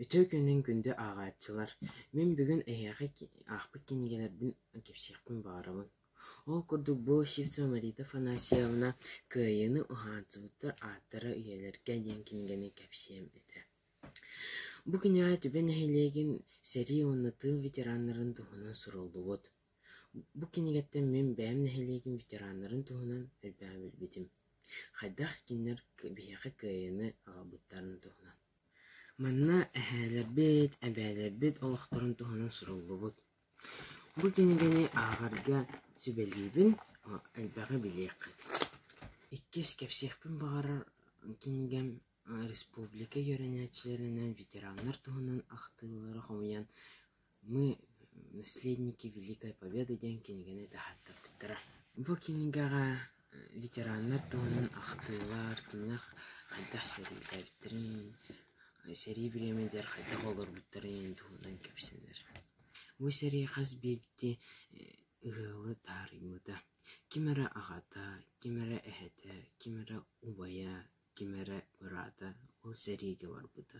Үтүө күнүн күндү ааҕааччылар! Мин бүгүн эһиэхэ аахпыт кинигэлэрбин кэпсиэхпин баҕарабын. Ол курдук бу Сивцева Марита Афанасьевна «Кыайыыны уһаансыбыттар ааттара үйэлэргэ» диэн кинигэни кэпсиэм этэ. Бу кинигэҕэ түбэ нэһилиэгин сэрии уонна тыыл ветераннарын туһунан суруллубут Бу кинигэттэн мин бэйэм нэһилиэгим ветераннарын туһунан элбэҕи билбитим, хайдах кинилэр биһиэхэ кыайыыны аҕалбыттарын туһунан. Манна эһээлэрбит, эбээлэрбит олохторун туһунан суруллубут. Бу кинигэни ааҕарга сүбэлиибин, элбэҕи билиэххит. Иккис, кэпсиэхпин баҕарар кинигэм республика үөрэнээччилэринэн, ветераннар туһунан ахтыылары хомуйан Мы «Наследники Великой Победы» диэн кинигэни этэхэттэрбиттэрэ. Бу кинигэҕэ ветераннар туһунан ахтыылар, кинилэр хайдах сэриилээбиттэрин, сэрии бириэмэтигэр хайдах олорбуттарын туһунан кэпсэнэр. Бу сэрии хас биирдии ыһыалы таарыйбыта. Ким эрэ аҕата, ким эрэ эһэтэ, ким эрэ убайа, ким эрэ быраата ол сэриигэ барбыта.